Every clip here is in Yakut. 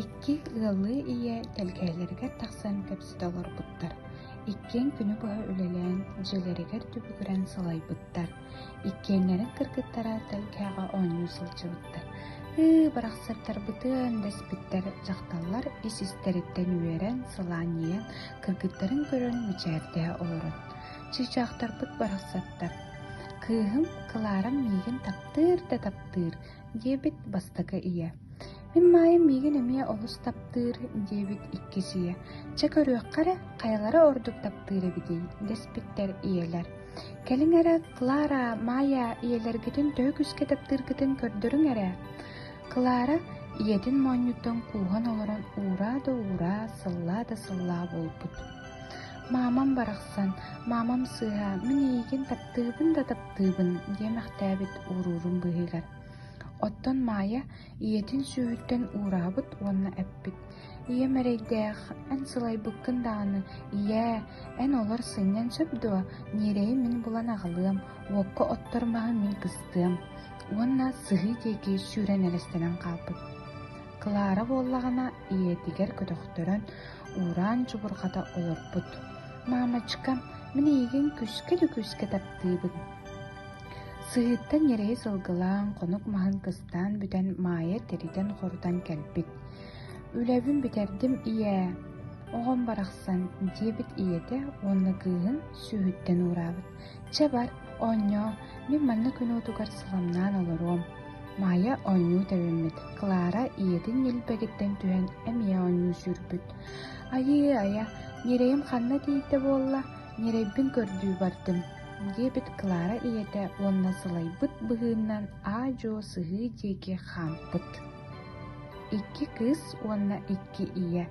Икки ыаллыы ийэ тэлгэһэлэригэр тахсан кэпсэтэ олорбуттар. Иккиэн күнү быһа үлэлээн, дьиэлэригэр түбүгүрэн салайбыттар. Иккиэннэрин кыргыттара тэлгэһэҕэ оонньуу сылдьыбыттар. «Ыы, бырахсыттарбытын!» дэспиттэр дьахталлар ис-истэриттэн үөрэн, сылаанньыйан, кыргыттарын көрөн мичээрдэһэ олорон Чыычаахтарбыт барахсаттар «Кыыһым Кларам миигин таптыыр да таптыыр» диэбит бастакы ийэ, «Мин Маайым миигин эмиэ олус таптыыр» диэбит иккис ийэ, «Чэ көрүөххэ эрэ, хайалара ордук таптыыр эбитий» дэспиттэр ийэлэр. «Кэлиҥ эрэ, Клара, Маайа, ийэлэргитин төһө күүскэ таптыыргытын көрдөрүҥ эрэ». Клара ийэтин моонньуттан кууһан олорон ураа да ураа, сыллаа да сыллаа буолбут. «Маамам барахсан, маамам сыыһа, мин эйигин таптыыбын да таптыыбын» диэ мэхтээбит ууруурун быыһыгар. Оттон Маайа ийэтин сүөһүттэн уураһабыт уонна эппит, «Ийэм эрэйдээх, эн сылайбыккын даҕаны, ийээ, эн олор сынньан сөп дуо? Ньиэрэйи мин булан аҕалыам, уокка оттор маһы мин кыстыам» уонна сыһыы диэки сүүрэн элэстэнэн хаалбыт. Клара буоллаҕына ийэтигэр көтөхтөрөн, уураан чубурҕата олорбут. «Маамачка, мин эйигин күскэ да күскэ таптыыбын». Сыһыыттан ньирэйи сылгылаан, хонук маһын кыстаан бүтэн, Маайа тэритэн-хорутан кэлбит. «Үлэбин бүтэрдим, ийээ. Оҕом барахсан», диэбит ийэтэ уонна кыыһын сүүһүттэн уураабыт. Чэ бар, оонньоо, мин манна күнуутугар сыламнаан олоруом. Маайа оонньуу тэбиммит. Клара ийэтин ньилбэгиттэн түһэн эмиэ оонньуу сүүрбүт. Айыы айа, ньирэйим ханна тиийдэ буолла? Ньирэйбин көрдүү бардым. диэбит Клара ийэтэ уонна сылайбыт быһыыннан аа-дьуо сыһыы диэки хаампыт. Икки кыыс уонна икки ийэ.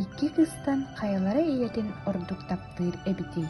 Икки кыыстан хайалара ийэтин ордук таптыыр эбитий?